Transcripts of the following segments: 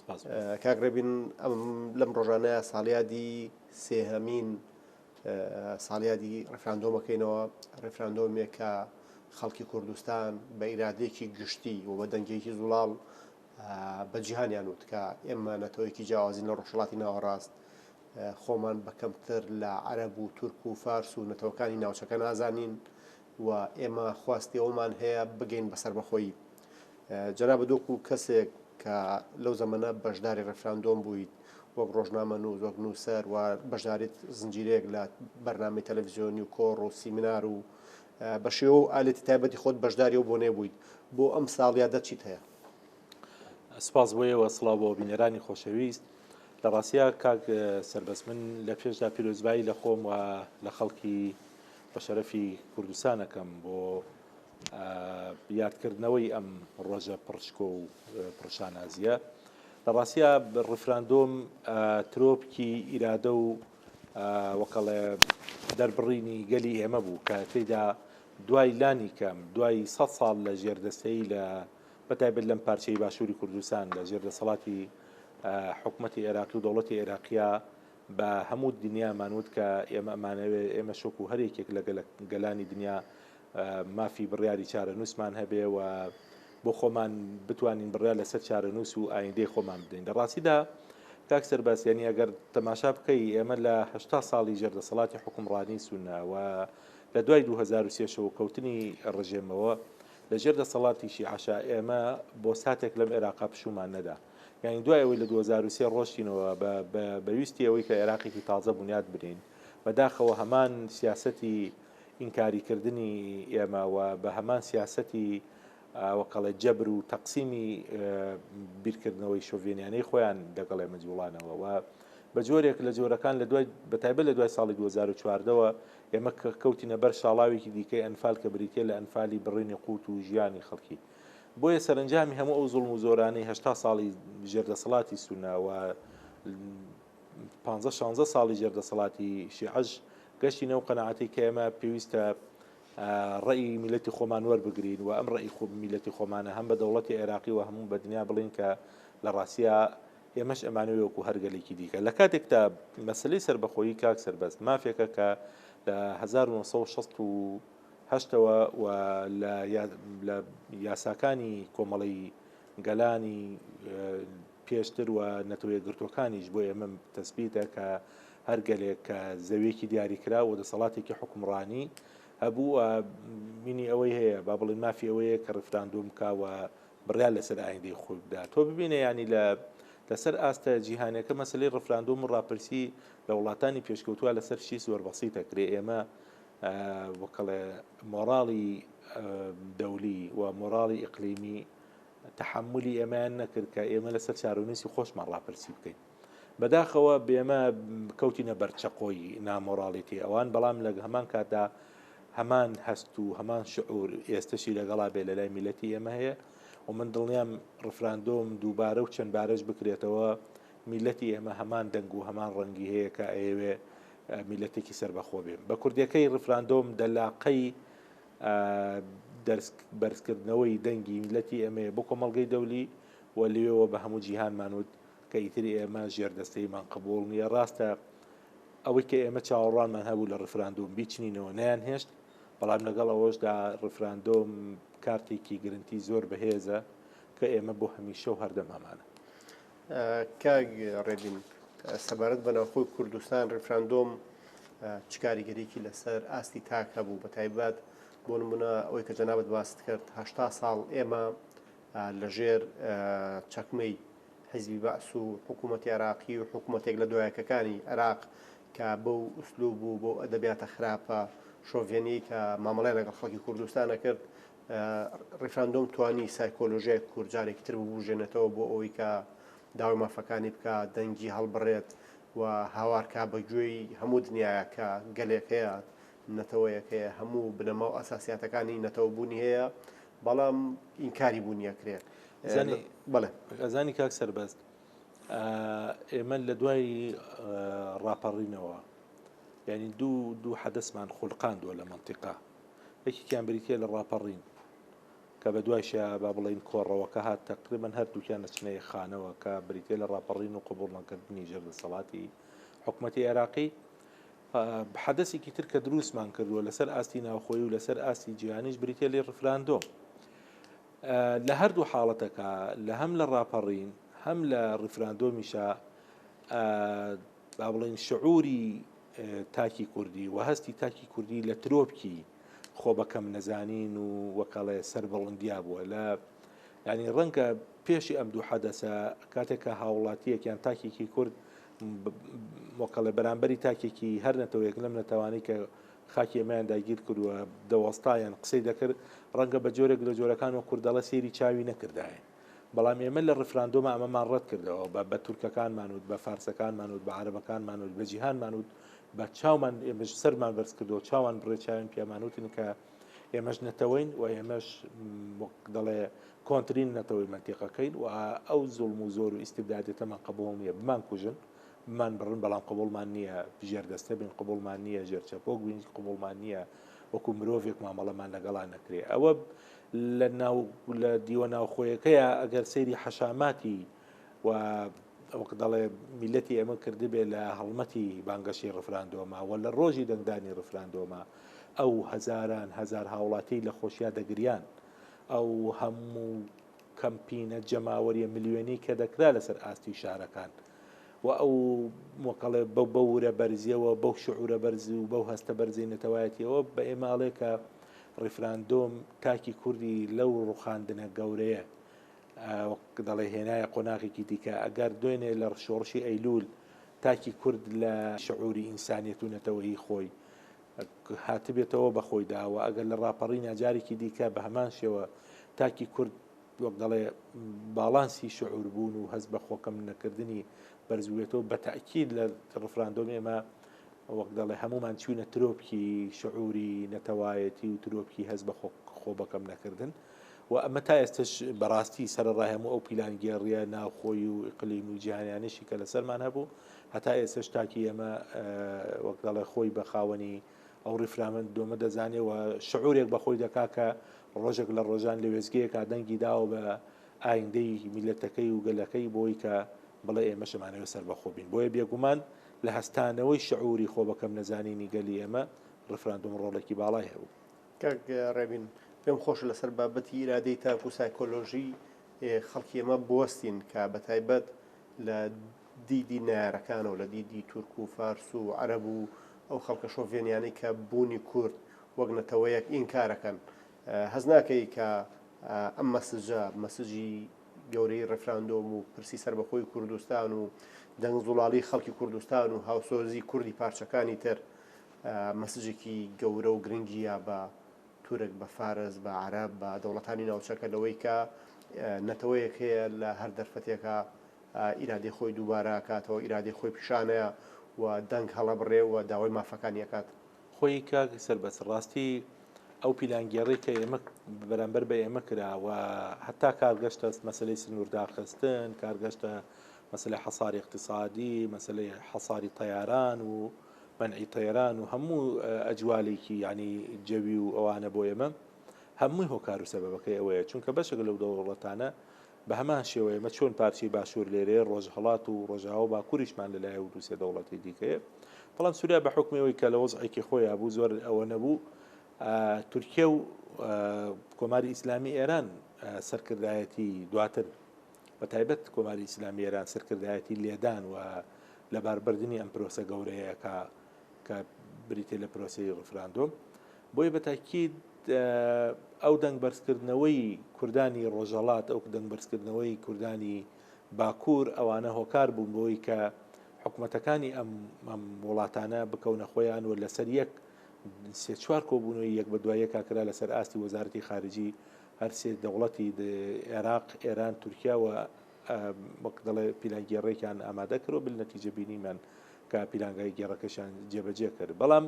سپاس بۆ کاک ڕێبین ئەم لەم ڕۆژانەیە ساڵیادی سێهەمین ساڵیادی ڕفراندۆمەکەینەوە ڕفراندۆمێک کە خەڵکی کوردستان بە ئیرادێکی گشتی و بە دەنگێکی زوڵاڵ بە جیهانیان وت کە ئێمە نەتەوەیەکی جیاوازین لە ڕۆژهڵاتی ناوەڕاست خۆمان بە کەمتر لە عەرەب و تورک و فارس و نەتەوەکانی ناوچەکە نازانین و ئێمە خواستی ئەوەمان هەیە بگەین بە سەربەخۆیی. جەنابت وەکو کەسێک کە لەو زەمەنە بەشداری ڕێفراندۆم بوویت وەک ڕۆژنامەنووس، وەک نووسەر و بەشداریت زنجیرەیەک لە بەرنامەی تەلەڤیزیۆنی و کۆڕ و سیمینار و بە شێوە و ئالێتی تایبەتی خۆت بەشداری ئەو بۆنەیە بوویت، بۆ ئەم ساڵیادە چیت هەیە؟ سپاس بۆ ئێوە، سڵاو بۆ بینەرانی خۆشەویست. لە ڕاستیا کاک سەربەست، من لە پێشدا پیرۆزبایی لە خۆم و لە خەڵکی بەشەرەفی کوردستان ئەکەم بۆ یادکردنەوەی ئەم ڕۆژە پڕ شکۆ و پڕ شانازییە. لە ڕاستیا ڕیفراندۆم ترۆپکی ئیرادە و وەکەڵێ دەربڕینی گەلی ئێمە بوو کە تێدا دوای لانی کەم دوای سە ساڵ لە ژێردەستەی لە بەتایبەت لەم پارچەی باشووری کوردستان لە ژێر دەسەڵاتی حکوومەتی عێراقی و دەوڵەتی عێراقیە بە هەموو دنیامان وت کە ئێمە ئەمانەوێت ئێمەش وەکو هەر یەکێک لە گەلانی دنیا مافی بڕیاری چارەنووسمان هەبێ و بۆ خۆمان بتوانین بڕیار لەسەر چارەنووس و ئایندەی خۆمان بدەین لە ڕاستیدا کاک سەرباسیانی ئەگەر تەماشا بکەی ئێمە لە هشتا ساڵی ژێر دەسەڵاتی حکومڕانی سوناوە لە دوای 2023ەوە کەوتنی ڕژێمەوە لە ژێر دەسەڵاتیشی عشا ئێمە بۆ ساتێک لەم عێراقا پشومان نەدا یانی دوای ئەوەی لە دوو هەزار و سێ ڕۆشتینەوە بە بە ویستی ئەوەی کە عێراقێکی تازە بونیاد بنێین بە داخەوە هەمان سیاسەتی ئینکاری کردنی ئێمە و بە هەمان سیاسەتی وەکەڵێ جەبر و تەقسیمی بیرکردنەوەی شۆڤێنیانەی خۆیان دەگەڵێ مەجوڵانەوە و بە جۆرێک لە جۆرەکان لە دوای بەتایبە لە دوای ساڵی 2014ەوە ئێمە کەوتینە بەر شاڵاوێکی دیکەی ئەنفال کە بریتە لە ئەنفالی بڕینی قووت و ژیانی خەڵکی بۆیە سەرەنجامی هەموو ئەو زوڵم و زۆرانەی هەشتا ساڵی ژێردەسەڵاتی سونا و پانزە شانزە ساڵی ژێردەسەڵاتی شیعەش گەشتی نەو قەنەعاتی کە ئێمە پێویستە ڕێی میلەتی خۆمان وەربگرین و ئەم ڕێی خۆ میلەتی خۆمانە هەم بە دەوڵەتی عێراقی و هەموو بە دنیا بڵین کە لە ڕاستە ئێمەش ئەمانە وەکو هەرگەلێکی دیکە لە کاتێکدا مەسلەی سربەخۆیی کاک سربەست مافێکە کە لە 1960 هەشتەوە و لە یاساکانی کۆمەڵەی گەلانی پێشتر و نەتەوەیەکگرتووەکانیش بۆ ئێمە تەسبیتە کە هەر گەلێک کە زەویەکی دیاریکرا و دەسەڵاتێکی حکومڕانی هەبوو مینی ئەوەی هەیە با بڵین مافی ئەوەیە کە ڕفراندۆم کاوە بڕیا لەسەر ئایندەی خۆی بدا تۆ ببینە ینی لە لەسەر ئاستە جیهانەکە مەسلی ڕفراندۆم و ڕاپرسی لە وڵاتانی پێشکەوتووە لەسەر شی زۆر بەسیتە کرێ ئێمە وکڵێ مۆڕاڵی دەولی و مۆڕاڵی ئیقلیمی تحملی ئێمەیان نەکرد کە ئێمە لەسەر چارونووسی خۆشمان ڕاپرسی بکەین بەداخەوە بێمە کەوتینە بەرچەقۆی نامۆراڵیتی ئەوان بەڵام لە هەمان کاتدا هەمان هەست و هەمان شعور ئێستشی لەگەڵا بێ لە لای میلەتی ئێمە هەیە و من دڵنیام ڕفراندۆم دووبارە و چەند بارەش بکرێتەوە میلەتی ئێمە هەمان دەنگ و هەمان ڕەنگی هەیە کە ئەیەوێ میلەتێکی سەربەخۆ بێ بە کوردیەکەی ڕیفراندۆم دەلاقەی دەرس بەرزکردنەوەی دەنگی میلەتی ئەمەیە بۆ کۆمەڵگەی دەولی و لێەوە بە هەموو جیهانمان وت کە ئیتری ئێمە ژێر دەستەیمان قبول نییە ڕاستە ئەوەی کە ئێمە چاوەڕوانمان هەبوو لە ڕفراندۆم بیچنینەوە نیان هێشت بەڵام لەگەڵ ئەوەشدا ڕفراندۆم کارتێکی گرنتی زۆر بەهێزە کە ئێمە بۆ هەمیشە و هەردەمامانە کاک ڕێبین سەبارەت بە ناوخۆی کوردستان ڕفراندۆم چ کاریگەریکی لەسەر ئاستی تاک هەبوو بە تایبەت بۆ نمونە ئەوەی کە جەنابەت باست کرد هەشتا ساڵ ئێمە لەژێر چەکمەی حیزبی بەعس و حکوومەتی عراقی و حکوومەتێک لە دوایەکەکانی عراق کە بەو ئوسلوب و بۆ ئەدەبیاتە خراپە شۆڤێنی کە مامەڵای لەگەڵ خەڵکی کوردستانە کرد ڕیفراندۆم توانی سایکۆلۆژیای کورد جارێکی تر ببوژێنێتەوە بۆ ئەوەی کە داوای مافەکانی بکە دەنگی هەڵبڕێت و هاوارکە بە گوێی هەموو دنیاە کە گەلێکەیە نەتەوەیەکەیە هەموو بنەما و ئەساسیاتەکانی نەتەوە بوونی هەیە بەڵام ئینکاری بوونیە کرێت بڵێ غەزانی کاک سەربەست ئێمە لە دوای ڕاپەڕینەوە ینی دوو دوو حەدەسمان خولقاندووە لە منتیقا یەکێکیان بریتییە لە ڕاپەڕین کە بە دوایشە با بڵێین کۆڕەوەکە هات تەقریبەن هەردووکیان دەچنە یەک خانەوە کە بریتییە لە ڕاپەڕین و قبوڵ نەکردنی ژێر دەسەڵاتی حکوومەتی عێراقی حەدەسێکی تر کە دروستمان کردووە لەسەر ئاستی ناوخۆی و لەسەر ئاستی جیهانیش بریتە لێ ڕفراندۆم لە هەردوو حاڵەتەکە لە هەم لە ڕاپەڕین هەم لە ڕفراندۆمیشە با بڵین شعوری تاکی کوردی و هەستی تاکی کوردی لە ترۆپکی خۆ بەکەم نەزانین و وەکەڵێ سەر بەڵندیا بووە لە ینی ڕەنگە پێشی ئەم دوو حەدەسە کاتێکە هاوڵاتیەک یان تاکێکی کورد مۆکەڵە بەرامبەری تاکێکی هەر نەتەوەیەک لەم نەتەوانی کە خاکی ئەمەیان داگیر کردووە دەوەستایان قسەی دەکرد ڕەنگە بە جۆرێک لە جۆرەکان و کوردەڵە سێری چاوی نەکردایە بەڵام ئێمە لە ڕفراندۆمە ئەمەمان ڕەت کردەوە بە بە تورکەکانمان وت بە فارسەکانمان وت بە عربەکانمان وت بە جیهانمان وت بە چاومان ئێمەش سەرمان بەرز کردەوە چاوان بڕێ چاوێن پیامانوتن کە ئێمەش نەتەوەین و ئێمەش دەڵێ کۆنتترین نەتەوەی منتیقەکەین و ئەو زوڵم و زۆر و ئیسیبدادێتەمان قبول نییە بمان کوژن بمان بڕن بەڵام قبولمان نییە ژێر دەستە بین قبولمان نییە ژێر چەپۆک بین قبولمان نییە وەکو مرۆڤێک مامەڵەمان لەگەڵا نەکرێ ئەوە لە ناو لە دیوە ناوخۆیەکەیە ئەگەر سەیری حەشاماتی و وەک دەڵێ میلەتی ئەمە کردبێ لە هەڵمەتی بانگەشی ڕفراندۆمە و لە ڕۆژی دەنگدانی ڕفراندۆمە ئەو هەزاران هەزار هاوڵاتی لە خۆشیا دەگریان ئەو هەموو کەمپینە جەماوەریە ملیێنی کە دەکرا لەسەر ئاستی شارەکان و ئەو مۆکەڵێ بە بەورە بەرزیەوە بەو شعورە بەرز و بەو هەستە بەرزی نەتەوایەتیەوە بە ئێماڵێکە ڕیفراندۆم تاکی کوردی لەو ڕوخاندنە گەورەیە دەڵێ هێنایە قۆناغێکی دیکە ئەگەر دوێنێ لە شۆڕشی ئەیلول تاکی کورد لە شعوری ئینسانیت و نەتەوەی خۆی هاتبێتەوە بەخۆی داوە ئەگەر لە ڕاپەڕی ناجارێکی دیکە بە هەمان شێوە تاکی کورد وەک دەڵێ باڵانسی شعور بوون و هەست بە خۆکەم نەکردنی بەرزبوێتەوە بە تاکیید لە ڕفراندۆم ئێمە وەک دەڵێ هەموومان چووینە ترۆپکی شعوری نەتەوایەتی و ترۆپکی هەست بە خۆ بەکەم نەکردن و ئەمە تا ئێستش بەڕاستی سەرڕای هەموو ئەو پیلانگێڕیە ناوخۆی و ئیقلیم و جیهانیانشی کە لەسەرمان هەبوو هەتا ئێسش تاکی ئێمە وەک دەڵێ خۆی بە خاوەنی ئەو ڕیفرامن دۆمە دەزانێت و شعورێک بەخۆی دەکا کە ڕۆژێک لە ڕۆژان لە وێزگەیەکە دەنگی داوە بە ئایندەی میلەتەکەی و گەلەکەی بۆی کە بڵێ ئێمە شمانەوە سەر بەخۆبین بۆیە بێگومان لە هەستانەوەی شعوری خۆ بە کەم نەزانینی گەلی ئێمە، ڕیفراندۆم ڕۆڵێکی باڵای هەبوو. کاک ڕێبین، پێم خۆشە لەسەر بابەتی ئیرادەی تاک و سایکۆلۆژیی خەڵکی ئێمە بوەستین کە بە تایبەت لە دیدی نەیارەکانەوە، لە دیدی تورک و فارس و عەرەب و ئەو خەڵکە شۆڤێنیانەی کە بوونی کورد وەک نەتەوەیەک ئینکار ئەکەن. هەست ناکەی کە ئەم مەسجە، مەسجی. گەورەیی ڕێفراندۆم و پرسی سەربەخۆی کوردستان و دەنگ زوڵاڵی خەڵکی کوردستان و هاوسۆزی کوردی پارچەکانی تر مەسجێکی گەورە و گرنگیە بە تورک بە فارس بە عرب بە دەوڵەتانی ناوچەکە لەوەی کە نەتەوەیەک هەیە لە هەر دەرفەتێکە ئیرادی خۆی دووبارە کاتەوە ئیرادی خۆی پیشانەیە و دەنگ هەڵەبڕێ و داوای مافەکانیەکات خۆی کاک سەربەست ڕاستی ئەو پیلانگێڕی کە ئێمە بەرامبەر بە ئێمە کرا و هەتا کارگەشتە مەسلەی سنوور داخستن کارگەشتە مەسلەی حەساری اقتصادی مەسلەی حەساری تەیاران و منعی تەیران و هەموو ئەجوالێکی ینی جەوی و ئەوانە بۆ ئێمە هەمووی هۆکار و سەبەکەی ئەوەیە چونکە بەشێک لەو دەوڵەتانە بە هەمان شێوە ئێمە چۆن پارچەی باشوور لێرەیە، ڕۆژهەڵات و ڕۆژاوا و باکووریشمان لەلایە و دوو سێ دەوڵەتی دیکەیە. بەڵام سووریا بە حوکمی ئەوەی کە لە وەزعێکی خۆیا بوو، زۆر ئەوە نەبوو تورکیە و کۆماری ئیسلامی ئێران سەرکردایەتی دواتر بە تایبەت کۆماری ئیسلامی ئێران سەرکردایەتی لێدان و لەباربردنی ئەم پرۆسە گەورەیەکە کە بریتێ لە پرۆسی ڕفراندۆم بۆیە بە تاکید ئەو دەنگ بەرزکردنەوەی کوردانی ڕۆژهەڵات، ئەو دەنگ بەرزکردنەوەی کوردانی باکوور، ئەوانە هۆکار بوون بۆی کە حکومەتەکانی ئەم وڵاتانە بکەونە خۆیان و لەسەر یەک سێ چوار کۆبوونەوەی یەک بە دوایەکە کرا لەسەر ئاستی وەزارەتی خارجی هەرسێ دەوڵەتی عێراق، ئێران، تورکیا و وەک دەڵێ پیلانگێڕێکیان ئامادە کرد و بالنەتیجە بینیمان کە پیلانگای گێڕەکەشیان جێبەجێ کرد بەڵام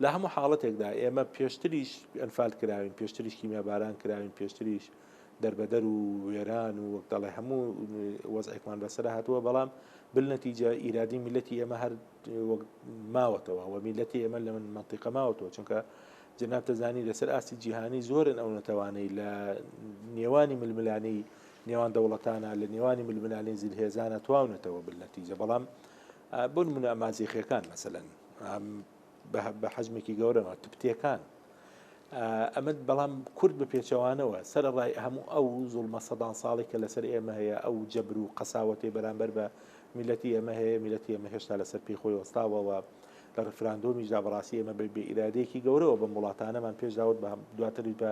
لە هەموو حاڵەتێکدا ئێمە پێشتریش ئەنفال کراوین پێشتریش کیمیاباران کراوین پێشتریش دەربەدەر و وێران و وەک دەڵێ هەموو وەزعێکمان بەسەر هاتووە بەڵام بالنەتیجە ئیرادی میلەتی ئێمە هەر ماوەتەوە و میلەتی ئێمە لە من منتیقە ماوەتەوە چونکە جناب تەزانی لەسەر ئاستی جیهانی زۆرن ئەو نەتەوانەی لە نێوانی ململانەی نێوان دەوڵەتانە لە نێوانی ململانێی زلهێزانە تواونەتەوە بل نەتیجە بەڵام بۆن منە ئەمازیخەکان مەسەن بە حەزمێکی گەورەەوە تبتەکان ئەمە بەڵام کورد بە پێچەوانەوە سەر ڕای هەموو ئەو زڵمە سەدان ساڵی کە لەسەر ئێمە هەیە ئەو جەبر و قەساوەتی بەرامبەر بە میلەتی ئێمە هەیە میلەتی ئێمە هێشتا لەسەر پێی خۆی وەستاوەوە لە ڕفراندۆمیشدا بەڕاستی ئێمە بە بێئرادەیەکی گەورەوە بە وڵاتانەمان پێشداوت بە دواتری بە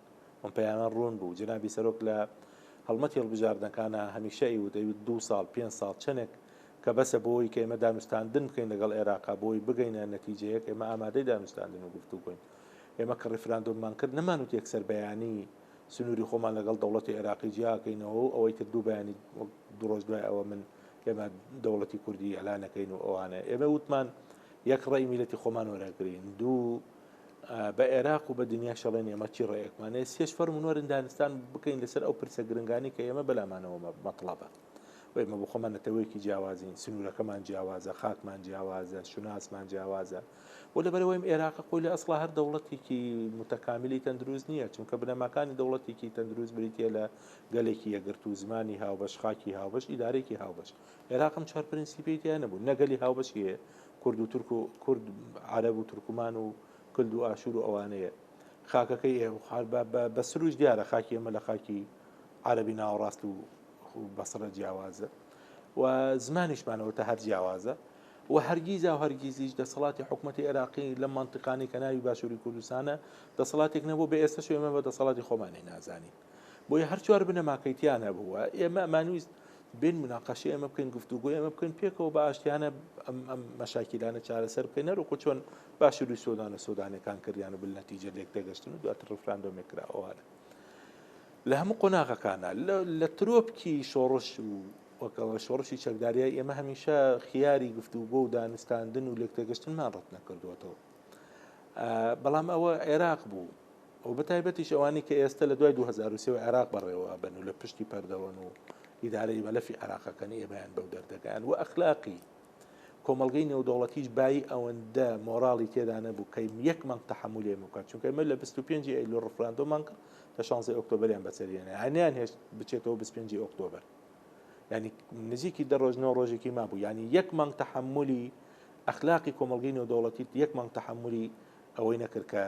ئەم پەیامە ڕوون بوو. جەنابی سەرۆک لە هەڵمەتی هەڵبژاردنەکانا هەمیشە ئەیوت، ئەیوت دوو ساڵ، پێنج ساڵ، چەنێک کە بەسە بۆ ئەوەی کە ئێمە دانوستاندن بکەین لەگەڵ ئێراقا بۆ ئەوەی بگەینە نەتیجەیەک، ئێمە ئامادەی دانوستاندن و گفتوگۆین. ئێمە کە ڕیفراندۆممان کرد نەمانوت یەکسەر بەیانی سنووری خۆمان لەگەڵ دەوڵەتی ئێراقی جیا ئەکەینەوە و ئەوەی تر دوو بەیانی وەک دوو ڕۆژ دوای ئەوە من ئێمە دەوڵەتی کوردی ئێلان ئەکەین و ئەوانە. ئێمە وتمان یەک ڕێی میللەتی خۆمان وەرئەگرین، دوو بە ئێراق و بە دنیاش ئەڵێن ئێمە چی ڕێیەکمانێ سێش فەرمون وەرن دانستان بکەین لەسەر ئەو پرسە گرنگانی کە ئێمە بەلامانەوە مەطلبە وێمە بۆ خۆمان نەتەوەیەکی جیاوازین سنوورەکەمان جیاوازە خاکمان جیاوازە شوناسمان جیاوازە و لەبەرەوەیم ئێراق خۆی لە ئەسڵا هەر دەوڵەتێکی متەکامیلی تەندروست نییە چونکە بنەماکانی دەوڵەتێکی تەندروست بریتە لە گەلێکی یەگرتو زمانی هاوبەش خاکی هاوبەش ئیدارێکی هاوبەش عێراق ئەم چوار پرنسیپەی تیا نەبوو نە گەلی هاوبەشی هەیە کورد و تورک و کورد عەرەب و تورکمان و کلد و ئاشور و ئەوانەیە خاکەکەی ئێ خوار بە بە بە سروش دیارە خاکی ئێمە لە خاکی عەرەبی ناوەڕاست و بەسڕە جیاوازە و زمانیشمانەوە تا هەر جیاوازە و هەرگیزا و هەرگیزیش دەسەڵاتی حکوومەتتی عێراقی لە منتیقانەی کە ناوی باشووری کوردستانە دەسەڵاتێک نەبوو بە ئێستەش ئێمە بە دەسەڵاتی خۆمانی نازانین بۆیە هەر چوار بنەماکەی تیا نەبووە ئێمە ئەمانویست بین مناقەشی ئەمە بکەین گفتوگو ئەمە بکەین پێکەوە بە ئاشتیانە ئەم ئەم مەشاکیلانە چارەسەر بکەین نەرۆکو چۆن باشوری سۆدانە سۆدانەکان کردیان و بلنەتیجە لێک دەگەشتن و دواتر ڕفراندۆمێک کراوەوانە لە هەموو قۆناغەکانە لە ترۆپکی شۆڕش و وەکەڵە شۆڕشی چەکداریای ئێمە هەمیشە خیاری گفتوگۆ و دانوستاندن و لێکتێگەشتنمان ڕەت نەکردووەتەوە بەڵام ئەوە عێراق بوو و بە تایبەتیش ئەوانەی کە ئێستە لە دوای دوو هەزار و سێ و عێراق بەڕێوە ئەبەن و لە پشتی پەردەوەن و ئیدارەی مەلەفی عێراقەکەن ئێمەیان بەو دەردەگەیاند و ئەخلاقی کۆمەڵگەی نێودەوڵەتیش بایی ئەوەندە مۆراڵی تێدا نەبوو کە یەک مانگ تەحملی ئێمە بکات چونکە ئێمە لە 25 ئەیلول ڕفراندۆمان کرد لە 16 ئۆکتۆبەریان بەسەریانە هەنیان هێشت بچێتەوە 25 ئۆکتۆبەر ینی نزیکی دە ڕۆژ نۆ ڕۆژێکی مابوو ینی یەک مانگ تەحملی ئەخلاقی کۆمەڵگەی نێودەوڵەتی یەک مانگ تەحملی ئەوەی نەکرد کە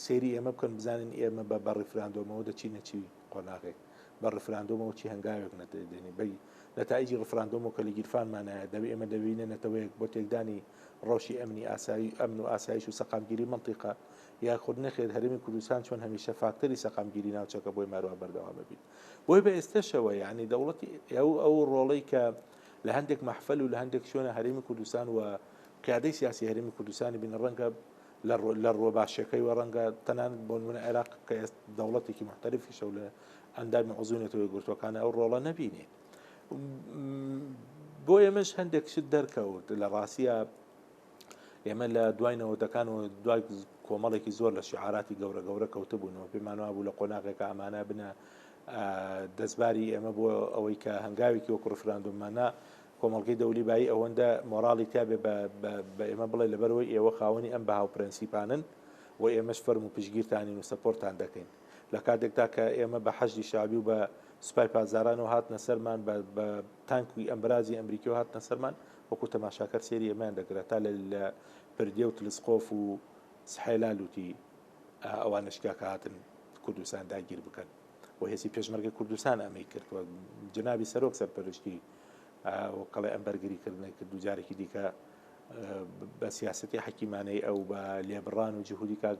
سەیری ئێمە بکەن بزانین ئێمە بە بە ڕیفراندۆمەوە دەچینە چی قۆناغێک بە ڕفراندۆمەوە چی هەنگاوێک نەدەێنی بی نەتایجی ڕفراندۆمەوە کە لە گیرفانمانایە دەبێ ئێمە دەبینە نەتەوەیەک بۆ تێکدانی ڕەوشی ئەمنی ئاسایی ئەمن و ئاسایش و سەقامگیری منطقە یاخود نەخێت هەرمی کوردستان چۆن هەمیشە فاکتەری سەقامگیری ناوچەکە بۆی ماروان بەردەوام ببیت بۆی بە ئێستەشەوە یعنی دەوڵەتی ئەو ئەو ڕۆڵی کە لە هەندێک مەحفەل و لە هەندێک شوێنە هەرێمی کوردستان و قیادەی سیاسی هەرێمی کوردستانی بینە ڕەنگە لە ڕۆ باشەکەی وە ڕەنگە تەنان بۆن منە عێراق کە ئێست دەوڵەتێکی محتەرفی شەو لە ئەندامی عزوونێتەوەی گرتوەکانە ئەو ڕۆڵە نەبینێ بۆ ئێمەش هەندێک شت دەرکەوت لە ڕاستە ئێمە لە دوای نەوەتەکان و دوای کۆمەڵێکی زۆر لە شعاراتی گەورە گەورە کەوتبوونەوە پێمان وابوو لە قۆناغێکە ئەمانە بنە دەستباری ئێمە بۆ ئەوەی کە هەنگاوێکی وەکو ڕفراندوممانە کۆمەڵگەی دەولی بای ئەوەندە مۆراڵی تابێ بە ئێمە بڵێ لەبەرەوەی ئێوە خاوەنی ئەم بەها و پرەنسیپانن و ئێمەش فەرم و پشگیرتانین و سەپۆرتان دەکەین لە کاتێکتا کە ئێمە بە حەشی شابی و بە سوپای پازاران و هاتنە سەرمان بە تانکوی ئەمبرازی ئەمریکی و هاتنە سەرمان وەکو تەماشاکەر سەیری ئێمەیان دەکرا تا لە لە پردێ و تلسقۆف و سحێلا لوتی ئەوانەش کە کە هاتن کوردستان داگیر بکەن و هێزی پێشمەرگەی کوردستان ئەمەی کرد و جنابی سەرۆک سەرپەرشتی وەکەڵێ ئەم بەرگریکردنە کرد و جارێکی دیکە بە سیاستی حەکیمانەی ئەو بە لێبڕان و جهودی کاک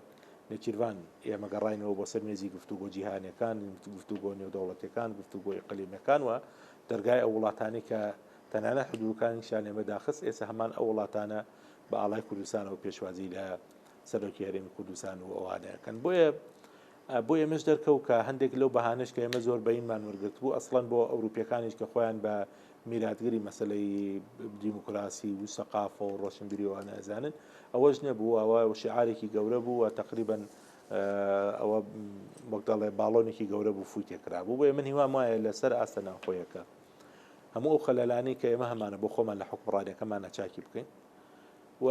نەچیروان ئێمە گەڕینەوە بۆ سەر مێزی گفتوگۆ جیهانەکان گفتوگۆ نێودەوڵەتەکان گفتوگۆی قلیمەکان و دەرگای ئەو وڵاتانی کە تەنانەت حدوودەکانیشیان لێمە داخست، ئێستا هەمان ئەو وڵاتانە بە ئاڵای کوردستانەوە پێشوازی لە سەرۆکی هەرێمی کوردستان و ئەوانە ئەکەن. بۆیە بۆ ئێمەش دەرکەوت کە هەندێک لەو بەهانەش کە ئێمە زۆر بەینمان وەرگرتبوو، ئەسڵەن بۆ ئەوروپییەکانیش کە خۆیان بە میراتگری مەسەلەی دیموکراسی و سەقافە و ڕۆشنبیری و ئەوانە ئەزانن، ئەوەش نەبوو، ئەوە شیعارێکی گەورە بوو و تەقریبەن ئەوە وەک دەڵێ باڵۆنێکی گەورە بوو فووی تێ کرابوو، بۆیە من هیوام وایە لەسەر ئاستە ناوخۆیەکە. هەموو ئەو خەلەلانەی کە ئێمە هەمانە بۆ خۆمان لە حکومڕانەکەمان نەچاکی بکەین و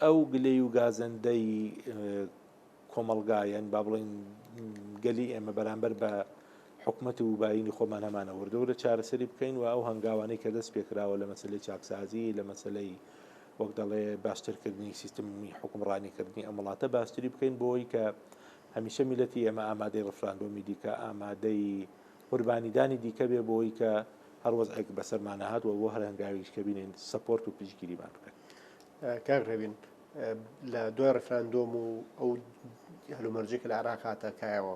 ئەو گلەی و گازندەی کۆمەلگایەن با بڵین گەلی ئێمە بەرامبەر بە حکومت و باینی خۆمان هەمانە وردەوە لە چارەسەری بکەین و ئەو هەنگاوانەی کە دەست پێکراوە لە مەسلەی چاکسازی لە مەسلەی وەک دەڵێ باشترکردنی سیستمی حکومڕانیکردنی ئەم وڵاتە باشتری بکەین بۆی کە هەمیشە میلەتی ئێمە ئامادەی ڕفراندۆمی دیکە ئامادەی قوربانیدانی دیکە بێ بۆی کە هەر وەزعێک بەسەرمان نەهات و بۆ هەر هەنگاوێکیش کە بینین سەپۆرت و پشتگیریمان بکەن. کاک ڕێبین لە دوای ڕفراندۆم و ئەو هەلومەرجێک لە عراق هاتە کایەوە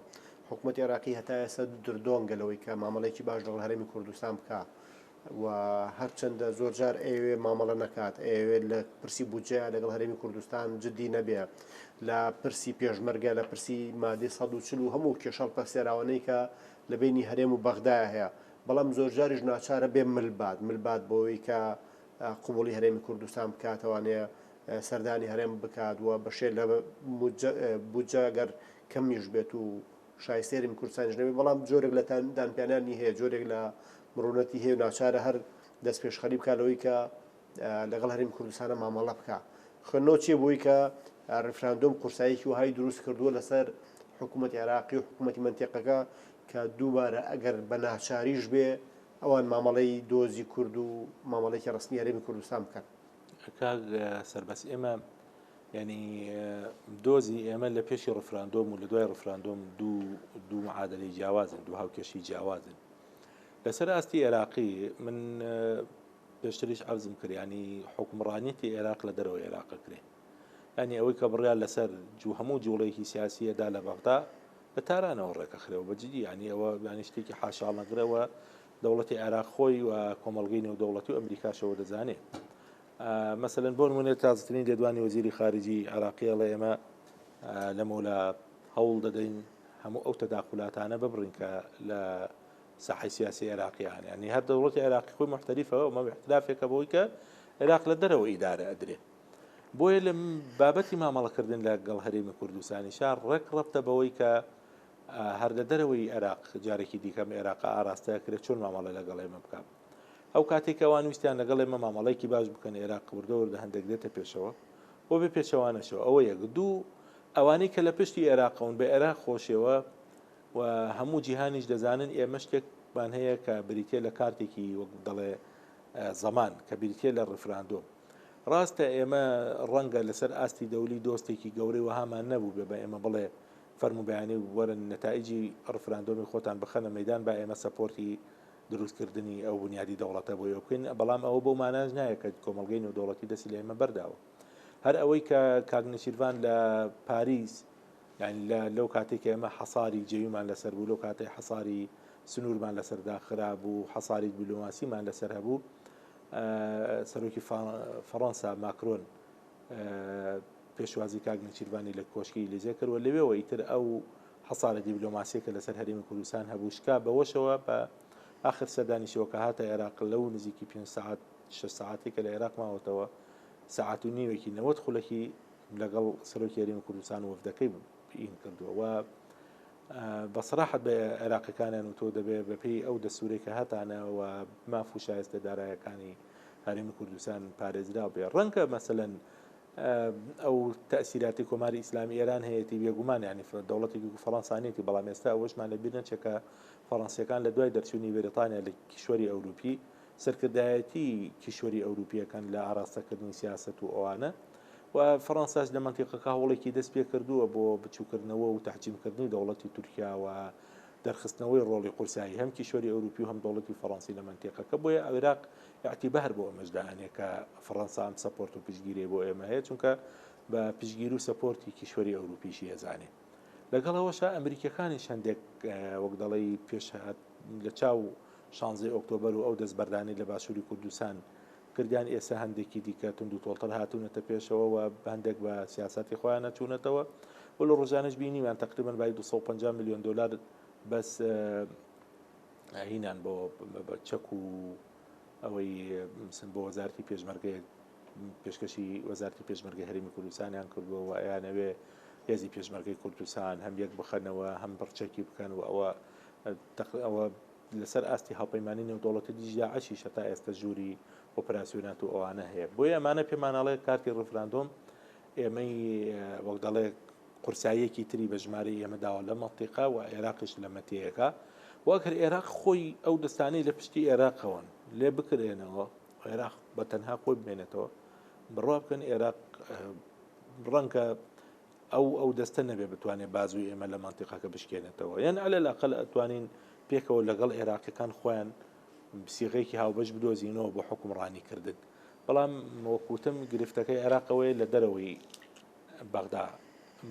حکوومەت عێراقی هەتا ئێستا دردۆنگە لەوەی کە مامەڵێکی باش لەگەڵ هەرێمی کوردستان بکە و هەرچەندە زۆرجار ئەیەوێت مامەڵە نەکات، ئەیەوێت لە پرسی بودجەیا لەگەڵ هەرێمی کوردستان جددی نەبێت، لە پرسی پێشمەرگە، لە پرسی مادەی سەد و چل و هەموو کێشە هەڵپەسێراوانەی کە لە بەینی هەرێم و بەغدایە هەیە، بەڵام زۆرجاریش ناچارە بێ مل بات، مل بات بۆوەی کە قبوڵی هەرێمی کوردستان بکات، توانێت سەردانی هەرێم بکات و بەشێ لە بودجە گەر کەمیش بێت و شایستەی هەرێمی کوردستانیش نەبێت، بەڵام جۆرێک لە دانپیانانی هەیە، جۆرێک لە مڕونەتی هەیە و ناچارە هەر دەستپێشخەری بکات لەوەی کە لەگەڵ هەرێمی کوردستانە مامەڵە بکات. خوێندنەوە چییە بۆی کە ڕیفراندۆم قورساییەکی وەهای دروست کردووە لەسەر حکوومەتی عێراقی و حکوومەتی مەنتیقەکە کە دووبارە ئەگەر بە ناچاریش بێ ئەوان مامەڵەی دۆزی کورد و مامەڵێکی ڕستنی هەرێمی کوردستان بکەن. کاک سەربەس ئێمە ینی دۆزی ئێمە لە پێشی ڕفراندۆم و لە دوای ڕفراندۆم دوو دوو معادلی جیاوازن دوو هاوکێشی جیاوازن لەسەر ئاستی ئێراقی من پێشتریش عرضم کردیانی حکومڕانیتی ئێراق لە دەرەوە ئێراق کرێ ینی ئەوەی کە بڕیان لەسەر جو هەموو جوڵێکی سیاسیەدا لە بەغدا لە تارانەوە ڕێکەخرێەوە بەجددی ینی ئەوە ینی شتێکی حاشاڵنەگرەوە دەوڵەتی عێراق خۆی و کۆمەلگەی نێودەوڵەتی و ئەمریکاشەوە دەزانێت مەسەن بۆن منێت تازترین لێدوانی وەزیری خارجی عراقیە لە ئێمە لەمەولا هەوڵ دەدەین هەموو ئەو تەداخولاتانە ببڕین کە لە ساحەی سیاسی عێراقی هەن یانی هەر دەوڵەتی عێراقی خۆی محتەریفەوە ئەمە احترافێکە بۆی کە عێراق لە دەرەوە ئیدارە ئەدرێ بۆیە لە بابەتی مامەڵەکردن لە گەڵ هەرێمی کوردستانی شار ڕێک ڕەبتە بەوەی کە هەر لە دەرەوەی عێراق جارێکی دیکەم عێراق ئاراستەکرێت چۆن مامەڵە لەگەڵ ئێمە بکەم ئەو کاتەی کە ئەوان ویستیان لەگەڵ ئێمە مامەڵەیەکی باش بکەن ئێراق وردە وردە هەندێک دێتە پێشەوە و بێ پێچەوانەشەوە ئەوە یەک دوو ئەوانەی کە لە پشتی ئێراقەون بە ئێراق خۆشەوە و هەموو جیهانیش دەزانن ئێمە شتێکمان هەیە کە بریتە لە کارتێکی وەک دەڵێ زەمان کە بریتە لە ڕفراندۆم ڕاستە ئێمە ڕەنگە لەسەر ئاستی دەولی دۆستێکی گەورەی وەهامان نەبوو بێ بە ئێمە بڵێ فەرموبیانی وەرن نەتائجی ڕفراندۆمی خۆتان بخەنە مەدان با ئێمە سەپۆرتی دروستکردنی ئەو بنیادی دەوڵەتە بۆی ئەوە بکەین بەڵام ئەوە بۆ ماناش نایە کە کۆمەلگەی و دەوڵەتی دەستی لە ئێمە بەرداوە هەر ئەوەی کە کاگنسیرڤان لە پاریس یان لە لەو کاتێک ئێمە حەساری جێویمان لەسەر بوو لەو کاتی حەساری سنوورمان لەسەردا خرابوو حەساری بلوماسیمان لەسەر هەبوو سەرۆکی فەڕەنسا ماکرۆن پێشوازی کاک نێچیرڤانی لە کۆشکی ئیلیزێ کرد و لەوێوە ئیتر ئەو حەسارە دیبلۆماسیە کە لەسەر هەرێمی کوردستان هەبوو شکا بەوەشەوە بە ئاخر سەردانیشەوە کە هاتە عێراق لەو نزیکی پێنج سعات شە سعاتی کە لە عێراق ماوەتەوە سعات و نیوێکی نەوەت خولەکی لەگەڵ سەرۆکی هەرێمی کوردستان وەفدەکەی پین کردووە و بە سەراحەت بە عێراقیەکانیان وتووە دەبێ بە پێی ئەو دەستورەی کە هەتانە و ماف و شایستە دارایەکانی هەرێمی کوردستان پارێزراو بێ ڕەنگە مەسەن ئەو تەسیراتی کۆماری ئیسلامی ئێران هەیەی بێگومان ینی دەوڵەتی فەڕەنسانێتی بەڵام ئێستا ئەوشمان لە بیر نەچێکە فەڕەنسیەکان لە دوای دەرچوونی بەریتانیا لە کیشوەری ئەوروپی سەرکردایەتی کیشوەری ئەوروپییەکان لە ئاراستەکردنی سیاسەت و ئەوانە و فەڕەنساش لە مەنتیقەکە هەوڵێکی دەست پێ کردووە بۆ بچووکردنەوە و تەحجیمکردنی دەوڵەتی تورکیا و دەرخستنەوەی ڕۆڵی قورسایی هەم کیشوەری ئەوروپی و هەم دەوڵەتی فەڕەنسی لە مەنتیقەکە بۆیە عێراق ئیعتیبار بۆ ئەمەش دائەنێ کە فەڕەنسا ئەم سەپۆرت و پشتگیری بۆ ئێمە هەیە چونکە بە پشتگیر و سەپۆرتی کیشوەری ئەوروپیشی ئەزانێ لەگەڵ ئەوەشە ئەمریکیەکانیش هەندێک وەک دەڵی پێشهات لە چاو شانزەی ئۆکتۆبەر و ئەو دەستبەردانەی لە باشووری کوردستان کردیان ئێسە هەندێکی دیکە توندوتۆڵتر هاتوونەتە پێشەوە و هەندێک بە سیاسەتی خۆیانە چوونەتەوە و لە ڕۆژانەش بینیمان تقریبا بای 250 میلیۆن دلار بەس هینان بۆ چەک و ئەوەی سن بۆ وەزارتی پێشمەرگێ پێشکەشی وەزارتی پێشمەرگە هەرمی کوردستانیان کردووە و ئەیانەوێ هێزی پێشمەرگەی کوردستان هەم یەک بخەنەوە هەم بڕچەکی بکەن و ئەوە ئەوە لەسەر ئاستی هاوپەیمانی نێودەوڵەتی دژی داعشیش هەتا ئێستا ژووری ئۆپراسیۆنات و ئەوانە هەیە بۆیە ئەمانە پێمانناڵێت کارتی ڕفراندۆم ئێمەی وەک دەڵێ قورساییەکی تری بە ژمارە ئێمە داوە لە مەتیقا و عێراقش لە مەتیەکە وەکر عێراق خۆی ئەو دەستانی لە پشتی عێراقەوەن لێ بکرێنەوە عێراق بە تەنها خۆی بمێنێتەوە بڕوا بکەن عێراق ڕەنگە ئەو ئەو دەستە نەبێ بتوانێت بازووی ئێمە لە مەنتیقەکە بشکێنێتەوە یان ئەلە لاقل ئەتوانین پێکەوە لەگەڵ عێراقیەکان خۆیان سیغێکی هاوبەش بدۆزینەوە بۆ حکومڕانی کردن بەڵام وەکوتم گرفتەکەی عێراقەوەی لە دەرەوەی بەغدا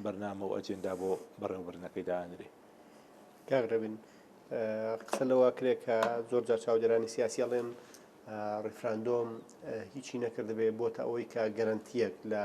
بەرنامە و ئەجێندا بۆ بەڕێوبرنەکەی دانرێ کاغرەبن قسە لەوا کرێ کە زۆر جار چاودێرانی سیاسی ئەڵێن ڕیفراندۆم هیچی نەکردبێ بۆتە ئەوەی کە گەرنتیەک لە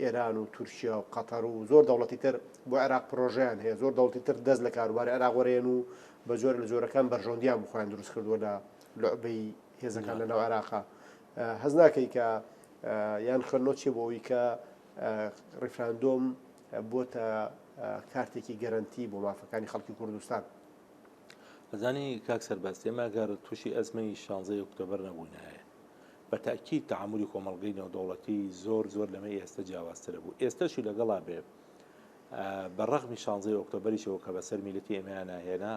ئێران و تورکیا و قەتەر و زۆر دەوڵەتی تر بۆ عێراق پرۆژەیان هەیە، زۆر دەوڵەتی تر دەست لە کاروباری عێراق وەرێن و بە جۆرە لە جۆرەکان بەرژەوەندییان بۆ خۆیان دروست کردووە لە لوعبەی هێزەکان لەناو عێراقا. هەست ناکەی کە یان خوێندنەوەت چییە بۆ ئەوەی کە ڕیفراندۆم بۆتە کارتێکی گەرەنتی بۆ مافەکانی خەڵکی کوردستان؟ ئەزانی کاک سەرباز ئێمە گەر تووشی ئەزمەی 16 ئۆکتۆبەر نەبووینایە بە تەئکید تەعامولی کۆمەڵگەی نێودەوڵەتی زۆر زۆر لەمەی ئێستە جیاوازترە بوو ئێستەشی لەگەڵا بێ بە ڕەغمی شانزەی ئۆکتۆبەریشەوە کە بەسەر میلەتی ئێمەیان ناهێنا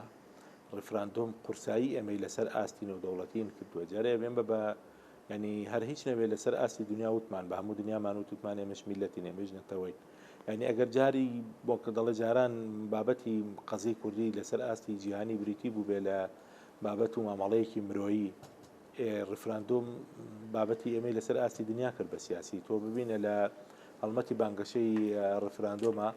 ڕفراندۆم قورسایی ئێمەی لەسەر ئاستی نێودەوڵەتین کردووە جارێ بێن بە بە ینی هەر هیچ نەبێت لەسەر ئاستی دنیا وتمان بە هەموو دنیامان و توتمان ئێمەش میلەتی نێمەش نەتەوەی ینی ئەگەر جاری بۆ کە دەڵێ جاران بابەتی قەزی کوردی لەسەر ئاستی جیهانی بریتی بوو بێ لە بابەت و مامەڵەیەکی مرۆیی ڕیفراندۆم بابەتی ئێمەی لەسەر ئاستی دنیا کرد بە سیاسی تۆ ببینە لە هەڵمەتی بانگەشەی ڕیفراندۆمە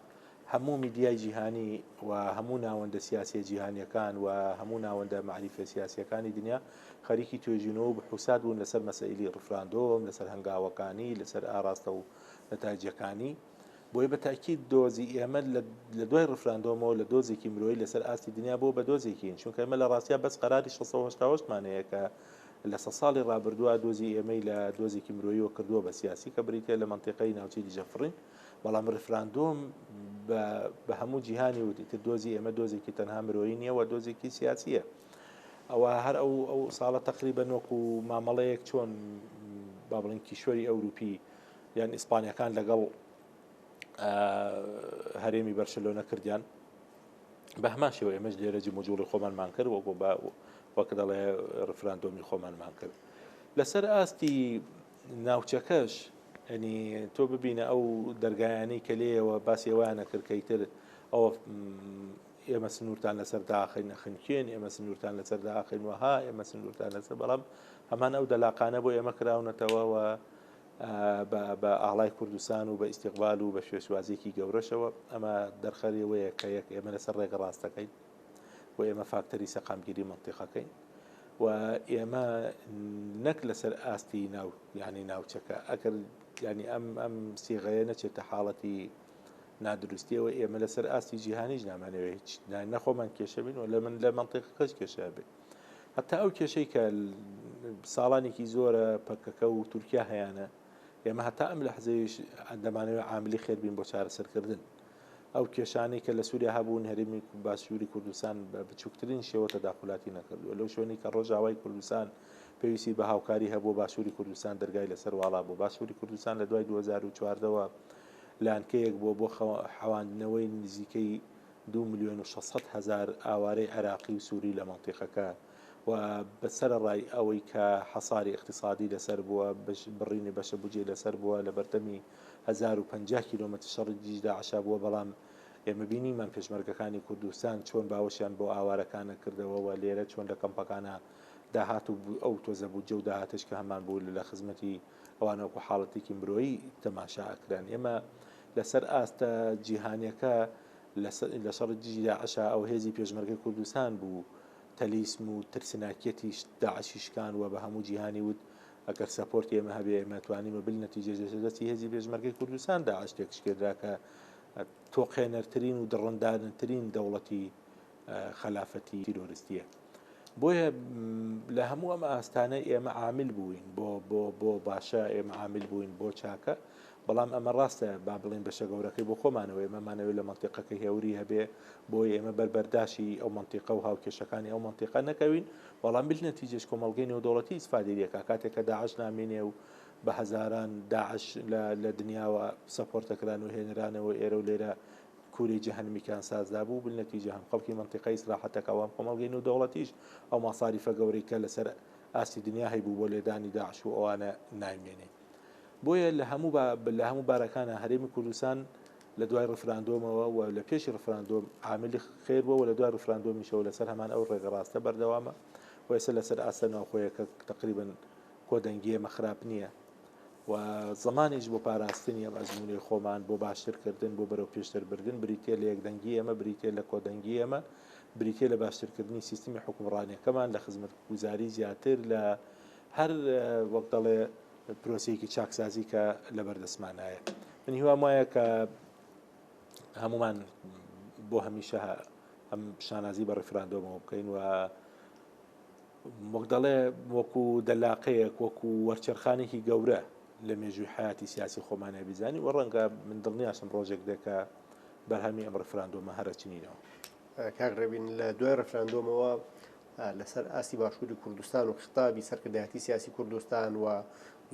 هەموو میدیای جیهانی و هەموو ناوەندە سیاسی جیهانیەکان و هەموو ناوەندە معریفە سیاسیەکانی دنیا خەریکی توێژینەوە بحوسات بوون لەسەر مەسەیلی ڕفراندۆم لەسەر هەنگاوەکانی لەسەر ئاراستە و نەتاجەکانی بۆیە بە تاکید دۆزی ئێمە لە دوای ڕفراندۆمەوە لە دۆزێکی مرۆی لەسەر ئاستی دنیا بۆ بە دۆزێکین چونکە ئمە لە ڕاستیا بەس قەراری 16 مانەیە کە لە سە ساڵی ڕابردووە دۆزی ئێمەی لە دۆزێکی مرۆیەوە کردووە بە سیاسی کە بریتە لە منتیقی ناوچەی دیجەفڕین بەڵام ڕفراندۆم بە هەموو جیهانی وتی تر دۆزی ئێمە دۆزێکی تەنها مرۆیی نیە و دۆزێکی سیاسیە ئەوە هەر ئەو ئەو ساڵە تقریبە نۆک و مامەڵەیەک چۆن با بڵین کیشوەری ئەوروپی یان ئیسپانیەکان لەگەڵ هەرێمی بەرشلۆنە کردیان بە هەمان شێوە ئێمەش لێرە جموجوڵی خۆمانمان کرد وەکو بە وەک دەڵێ ڕفراندۆمی خۆمانمان کرد لەسەر ئاستی ناوچەکەش ئەنی تۆ ببینە ئەو دەرگایانی کە لێەوە باسی ئەویانە کردکەیتر ئەوە ئێمە سنوورتان لەسەر داخین نەخنکێن ئێمە سنوورتان لەسەر داخین وەها ئێمە سنوورتان لەسەر بەڵام هەمان ئەو دەلاقانە بۆ ئێمە کراونەتەوەەوە بە ئاڵای کوردستان و بە ئیستیقبال و بە شێوەسوازیەکی گەورەشەوە ئەمە دەرخەری ئەوەیە کە یەک ئێمە لەسەر ڕێگە ڕاستەکەین و ئێمە فاکتەری سەقامگیری مەنتیقەکەین و ئێمە نەک لەسەر ئاستی ناو یعنی ناوچەکە ئەگەر ینی ئەم ئەم سیغەیە نەچێتە حاڵەتی نادروستیەوە ئێمە لەسەر ئاستی جیهانیش نامانەوێت نەخۆمان کێشەبین و لە من لە منتیقەکەش کێشە بێت هەتا ئەو کێشەی کە ساڵانێکی زۆرە پەکەکە و تورکیا هەیەە ئێمە هەتا ئەم لە حزەویش ئەندەمانەوە عاملی خێربین بۆ چارەسەرکردن ئەو کێشانەی کە لە سووریا هەبوون هەرمی باشووری کوردستان بە بچووکترین شێوە تەداخلاتی نەکردووە لەو شوێنی کە ڕۆژاوای کوردستان پێویستی بە هاوکاری هەبوو باشووری کوردستان دەرگای لەسەر واڵا بوو باشووری کوردستان لە دوای 2014ەوە لانکەیەک بۆ بۆ حەواندنەوەی نزیکەی دوو ملیۆن و شەش سەد هەزار ئاوارەی عێراقی و سوری لە مەنتیقەکە و بە سەرەڕای ئەوەی کە حەساری ئیقتیسادی لەسەر بووە، بڕینی بەشە بودجەی لەسەر بووە، لە بەردەمی هەزار و پەنجا کیلۆمەتر شەڕی دژی داعشا بووە، بەڵام ئێمە بینیمان پێشمەرگەکانی کوردستان چۆن باوەشیان بۆ ئاوارەکانە کردەوە و لێرە چۆن لە کەمپەکانە داهات و ئەو تۆزە بودجە و داهاتەش کە هەمان بوو لە خزمەتی ئەوانە وەکو حاڵەتێکی مرۆیی تەماشا ئەکران. ئێمە لەسەر ئاستە جیهانیەکە لە شەڕی دژی داعشا ئەو هێزی پێشمەرگەی کوردستان بوو تەلیسم و ترسناکیەتی داعشی شکان و بە هەموو جیهانی وت ئەگەر سەپۆرتی ئێمە هەبێ ئێمە توانیمە بل نەتیجەش لەسەر دەستی هێزی پێشمەرگەی کوردستان داعش تێکشکێنرا کە تۆقێنەرترین و دڕندانترین دەوڵەتی خەلافەتی تیرۆرستیە بۆیە لە هەموو ئەم ئاستانە ئێمە عامل بووین بۆ بۆ بۆ باشە ئێمە عامل بووین بۆ چاکە بەڵام ئەمە ڕاستە با بڵین بەشە گەورەکەی بۆ خۆمانەوە ئێمەمانەوە لە منتیقەکە هێوری هەبێ بۆی ئێمە بەربەرداشی ئەو منتیقە و هاوکێشەکانی ئەو منتیقە نەکەوین بەڵام بل نەتیجێش کۆمەلگەی نێودوڵەتی ئیسفادێریەکە کاتێکە داعش نامێنێ و بە هەزاران داعش لە دنیاوە سەپۆرتەکران و هێنرانەوە ئێرە و لێرە کوری جەهەنمی کان ساز دابوو بلنەتوی جەهەم خەڵکی مەنتیقە ئیسراحەتەکە ئەوان کۆمەڵگەی نو دەوڵەتیش ئەو ماساریفە گەورەی کە لەسەر ئاستی دنیا هەیبوو بۆ لێدانی داعش و ئەوانە نایمێنێ بۆیە لە هەموو لە هەموو بارەکانە هەرێمی کوردستان لە دوای ڕفراندۆمەوە و لە پێشی ڕفراندۆم عاملی خێر بووە لە دوای ڕفراندۆمیشەوە لەسەر هەمان ئەو ڕێگە ڕاستە بەردەوامە و ئێستا لەسەر ئاستە ناوخۆیەکە تقریبن کۆدەنگیێمە خراپ نییە و زمانیش بۆ پاراستنی ئەم ئەزموونەی خۆمان بۆ باشترکردن بۆ بەرەو پێشتربردن بریتە لە یەکدەنگی ئێمە بریتە لە کۆدەنگی ئێمە بریتە لە باشترکردنی سیستمی حکومڕانیەکەمان لە خزمەت گوزاری زیاتر لە هەر وەک دەڵێ پرۆسەیەکی چاکسازی کە لە بەردەستمانایە من هیوام وایە کە هەمومان بۆ هەمیشە ئەم شانازی بە ڕفراندۆمەوە بکەین و وەک دەڵێ وەکو دەلاقەیەک وەکو وەرچەرخانێکی گەورە لە مێژووی حیاتی سیاسی خۆمانای بزانانی و ڕەنگە من دڵنیاشم ڕۆژێک دێکە بەرهەمی ئەم ڕفراندۆمە هەرەچنینەوە کاک ڕێبین لە دوای ڕفراندۆمەوە لەسەر ئاستی باشووری کوردستان و خطابی سەرکردایەتی سیاسی کوردستان و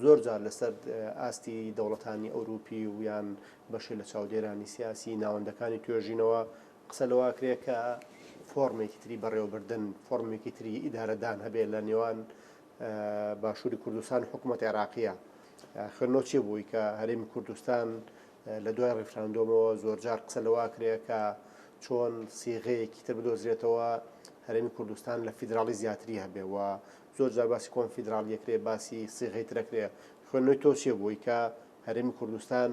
زۆر جار لەسەر ئاستی دەوڵەتانی ئەوروپی و یان بەشێ لە چاودێرانی سیاسی ناوەندەکانی توێژینەوە قسە لەوە ئەکرێت کە فۆڕمێکی تری بەڕێوەبردن، فۆڕمێکی تری ئیدارەدان هەبێت لە نێوان باشووری کوردستان و حکوومەتی عێراقییە. خوێندنەوە چییە بۆی کە هەرێمی کوردستان لە دوای ڕیفراندۆمەوە زۆرجار قسە لەوە ئەکرێت کە چۆن سیغەیەکی تر بدۆزرێتەوە هەرێمی کوردستان لە فیدراڵی زیاتری هەبێت و زۆرجار باسی کۆنفیدراڵی ئەکرێت، باسی سیغەی تر ئەکرێت. خوێندنەوەی تۆ چییە بۆی کە هەرێمی کوردستان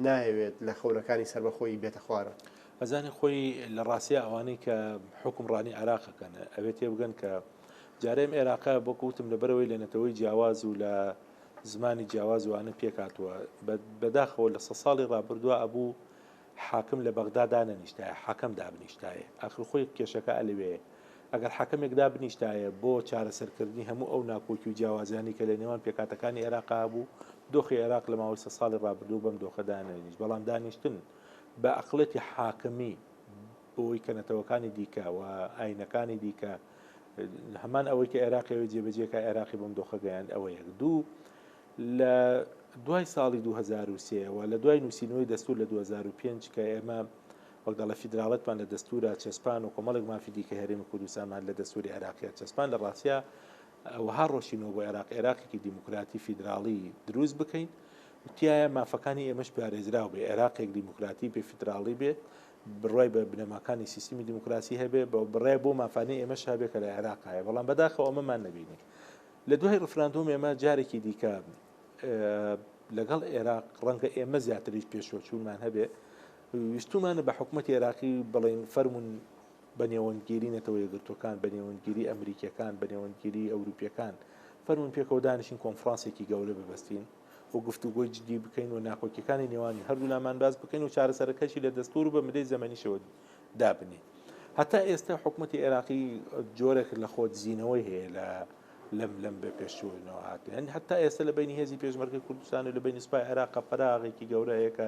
نایەوێت لە خەونەکانی سەربەخۆیی بێتە خوارە. ئەزانێت خۆی لە ڕاستیا ئەوانەی کە حوکمڕانی عێراق ئەکەن ئەبێ تێبگەن کە جارێ ئەم عێراقە وەکو وتم لەبەرەوەی لە نەتەوەی جیاواز و لە زمانی جیاواز و ئەوانە پێک هاتووە. بەداخەوە لە سەد ساڵی ڕابردووە ئەبوو حاکم لە بەغدا دانەنیشتایە، حاکم دابنیشتایە. ئاخر خۆی کێشەکە لەوێیە. ئەگەر حاکمێک دابنیشتایە بۆ چارەسەرکردنی هەموو ئەو ناکۆکی و جیاوازیانەی کە لە نێوان پێکهاتەکانی عێراقا هەبوو، دۆخی عێراق لە ماوەی سەد ساڵی ڕابردوو بەم دۆخە دانەنیشت، بەڵام دانیشتن بە ئەقڵێتی حاکمی بۆی کە نەتەوەکانی دیکە و ئاینەکانی دیکە هەمان ئەوەی کە عێراقی ئەوێ جێبەجێ کە عێراقی بەم دۆخە گەیاند ئەوە یەک دوو لە دوای ساڵی 2023 و لە دوای نووسینەوەی دەستور لە 2005 کە ئێمە وەک دەڵێت فیدراڵێتمان لە دەستوورا چەسپان و کۆمەڵێک مافی دیکەی هەرێمی کوردستانمان لە دەستووری عێراقیا چەسپان، لە ڕاستیا ئەوها ڕۆشتینەوە بۆ عێراق عێراقێکی دیموکراتی فیدراڵی دروست بکەین و تیایا مافەکانی ئێمەش پارێزراو بێ، عێراقێک دیموکراتی بێ فیدراڵی بێ، بڕوای بە بنەماکانی سیستمی دیموکراسی هەبێ، بە بڕای بۆ مافانەی ئێمەش هەبێ کە لە عێراق هەیە، بەڵام بەداخەوە ئەمەمان نەبینی. لە دوای ڕیفراندۆم ئێمە جارێکی دیکە لەگەڵ عێراق ڕەنگە ئێمە زیاتریش پێشوەچوونمان هەبێ، ویستومانە بە حکومەتی عێراقی بڵێین فەرموون بە نێوەندگیری نەتەوە یەکگرتووەکان بە نێوەندگیری ئەمریکیەکان بە نێوەندگیری ئەوروپیەکان فەرموون پێکەوە دانیشین کۆنفرانسێکی گەورە ببەستین و گفتوگۆی جدی بکەین و ناکۆکیەکانی نێوانی هەردوولامان باز بکەین و چارەسەرەکەشی لە دەستور و بە مدەی زەمەنیشەوە دابنی هەتا ئێستا حکوومەتتی عێراقی جۆرێک لە خۆ دزینەوەی هەیە لە لەم لەم بە پێشوەوە هاتن هەتا ئێستا لە بینی هێزی پێشمەرگی کوردستان و لە بینی سپای عێراق قەراغێکی گەورەیەکە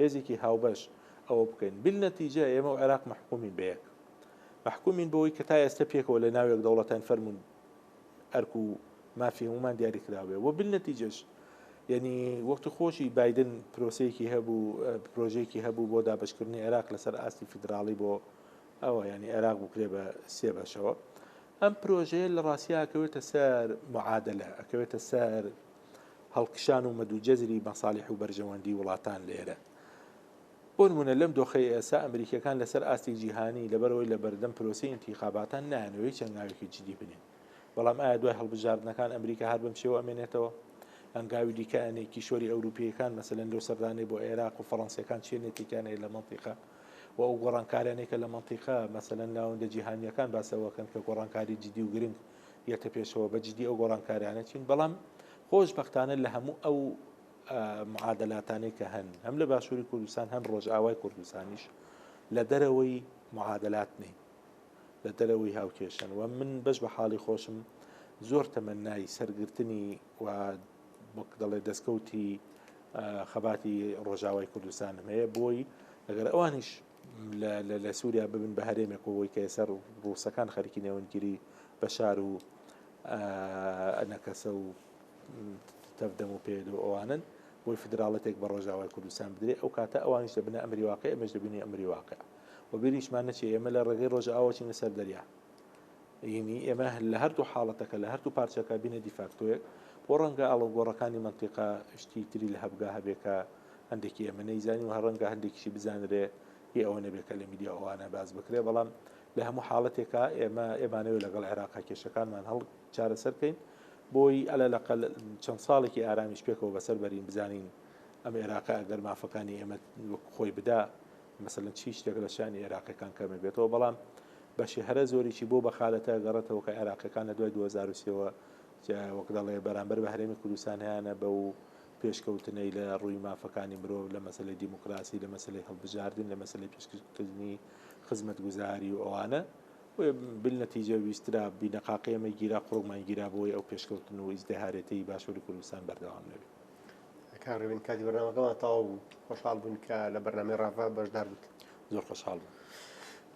هێزێکی هاوبەش ئەوە بکەین بالنتیجە ئێمە و عێراق مەحکومین بە یەک مەحکومین بەوەی کە تا ئێستا پێکەوە لە ناوێک دەوڵەتان فەرمونون ئەرک و مافی هەمومان دیاری کراوێ و بالنتیجەش یعنی وەختی خۆشی بادن پرۆسەیەکی هەبوو پرۆژێکی هەبوو بۆ دابشکردنی عێراق لەسەر ئاستی فیدراڵی بۆ ئەوە ینی عێراق بکرێ بە سێ بەشەوە ئەم پرۆژەیە لە ڕاستیاکەوێتە سەر معادلە ئەکەوێتە سەر هەڵکشان و مەد و جەزری مەسالیح و بەرژەوەندی وڵاتان لێرەن. بۆ نموونە لەم دۆخەی ئێستا ئەمریکییەکان لەسەر ئاستی جیهانی لەبەرئەوەی لە بەردەم پرۆسەی ئینتیخاباتان نایانەوێت هیچ هەنگاوێکی جدی بنێن. بەڵام ئایا دوای هەڵبژاردنەکان ئەمریکا هەر بەم شێوە ئەمێنێتەوە؟ هەنگاوی دیکە ئەنێ کیشوەری ئەوروپییەکان مەسەلەن لەو سەردانەی بۆ عێراق و فەڕەنسییەکان چیە نێتێکیان هەیە لە مەنتیقە و ئەو گۆڕانکارانێکە لە مەنتیقە مەسەلەن ناوەندە جیهانییەکان باسەوەکەن کە گۆڕانکاری جدی و گرنگ یەتە پێشەوە بە جدی ئەو گۆڕانکاریانە چین بەڵام خۆش بەختانە لە هەموو ئەو معادلاتانەی کە هەن هەم لە باشووری کوردستان هەن ڕۆژئاوای کوردستانیش لە دەرەوەی معادلات نین لە دەرەوەی هاوکێشن و من بەش بە حاڵی خۆشم زۆر تەمەنای سەرگرتنی و وەک دەڵێ دەستکەوتی خەباتی ڕۆژاوای کوردستانم هەیە بۆی لەگەر ئەوانیش لە سوریا ببن بە هەرێمێک و کە ئێستا ڕووسەکان خەریکی نێوەندگیری بەشار و ئەنەکەسە و تەفدەم و پێ و ئەوانن بۆی فدراڵەتێک بە ڕۆژاوای کوردستان بدرێت ئەو کاتە ئەوانیش دەبنە ئەمری واقع ئەمەش دەبینی ئەمری واقع و بینیشمان نەچێ ئێمە لە ڕێگەی ڕۆژ ئاوچینە سەر دەریا ینی ئێمە لە هەردوو حاڵەتەکە لە هەردوو پارچەکە بینە دیفاکتۆیەک بۆ ڕەنگە ئاڵۆگۆڕەکانی منتیقا شتی تری لە هەبگا هەبێکە هەندێکی ئێمە نەیزانین و هەڕەنگە هەندێکیشی بزانرێ هی ئەوە نەبێکە لە میدیا ئەوانە باز بکرێ بەڵام لە هەموو حاڵەتێکە ئێمە ئێمانەوە لەگەڵ عێراقا کێشەکانمان هەڵ چارەسەرکەین بۆی ئەلە لە چەند ساڵێکی ئارامیش پێکەوە بەسەر بەرین بزانین ئەم عێراقە ئەگەر مافەکانی ئێمە خۆی بدا مەسەن چی شتێک لە شانی عێراقەکان کەمە بێتەوە بەڵام بەشی هەرە زۆریی بۆ بەخالەتە گەڕێتەوە کە عێراقیەکان لە دوای دوو هەزار و سێ وە وەک دەڵێ بەرامبەر بە هەرێمی کوردستان هەیانە بەو پێشکەوتنەی لە ڕووی مافەکانی مرۆڤ لە مەسەلەی دیموکراسی لە مەسەلەی هەڵبژاردن لە مەسەلەی پێشکردنی خزمەت گوزاری و ئەوانە بل نەتیجە ویسترا بینەقاقی ئەمە گیرا قڕۆکمان گیرا بۆی ئەو پێشکەوتن و ئیزدەهارێتی باشووری کوردستان بەردەوام نەبێت کاڕێبین کاتی بەرنامەکەمان تاو بوو خۆشحاڵ بوون کە لە بەرنامی ڕاڤە بەشدار بووت زۆر خۆشحاڵ بوو